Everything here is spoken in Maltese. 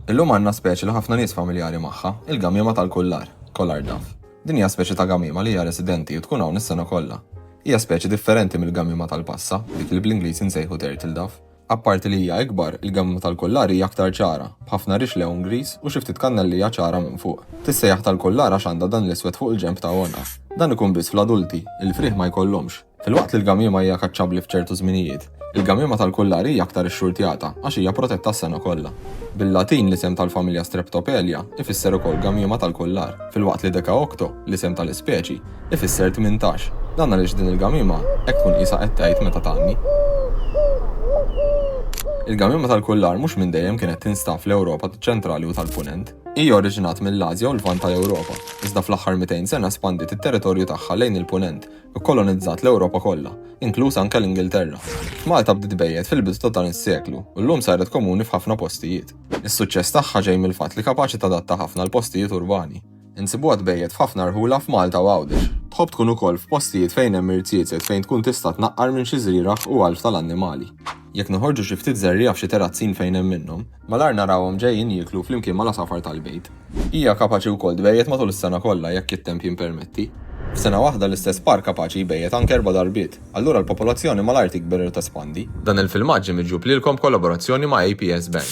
Illum għandna speċi li ħafna nies familjari magħha, il-gamiema tal-kullar, Collar dove. Din hija speċi ta' gamiema li hija residenti u tkun hawn is-sena kollha. Hija speċi differenti mill-gamiema tal-passa, dik li bl-Ingliż insejħu turtle dove. Apparti li hija ikbar, il-gamiema tal-kullar hija aktar ċara, b'ħafna rix lewun griż u xi ftit kannellija ċara minn fuq. Tissejjaħ tal-kullar għax għandha dan l-iswed fuq il-ġenb ta' għonqha. Dan ikun biss fl-adulti, il-frieħ ma jkollhomx. Filwaqt li l-gamiema hija kaċċabbli f'ċertu żminijiet, il-gamiema tal-kullar hi aktar ixxurtjata għax hija protetta s-sena kollha. Bil-Latin l-isem tal-familja Streptopelia ifisser ukoll gamiema tal-kullar, filwaqt li Decaocto, l-isem tal-ispeċi, ifisser tmintax. Dan għaliex din il-gamiema hekk tkun qisha qed tgħid meta tgħanni. Il-gamiema tal-kullar mhux minn dejjem kienet tinstab fl-Ewropa taċ-Ċentrali u tal-Punent. Hija oriġinat mill-Ażja u l-Lvant tal-Ewropa, iżda fl-aħħar 200 sena spandiet it-territorju tagħha lejn il-Punent, kkolonizzat l-Ewropa kollha, inkluż anke l-Ingilterra. Malta bdiet bejjed fil-bidu ta' dan is-seklu u llum saret komuni f'ħafna postijiet. Is-suċċess tagħha ġej mill-fatt li kapaċi tadatta ħafna l-postijiet urbani. Insibuha tbejjed f'ħafna rħula f'Malta u Għawdex. Tħobb tkun ukoll f'postijiet fejn hemm irziezet fejn tkun tista' tnaqqar minn xi żrieragħ u għalf tal-annimali. Jekk noħorġu xi ftit żerriegħa f'xi terrazzin fejn hemm minnhom, Malajr narahom ġejjin jieklu flimkien mal-għasafar tal-bejt. Hija kapaċi wkoll tbejjet matul is-sena kollha jekk it-temp jippermetti. F'sena waħda l-istess par kapaċi jbejjet anke erba' darbiet. Allura l-popolazzjoni malajr tikber u tespandi. Dan il-filmat ġie miġjub lilkom b'kollaborazzjoni ma' APS Bank.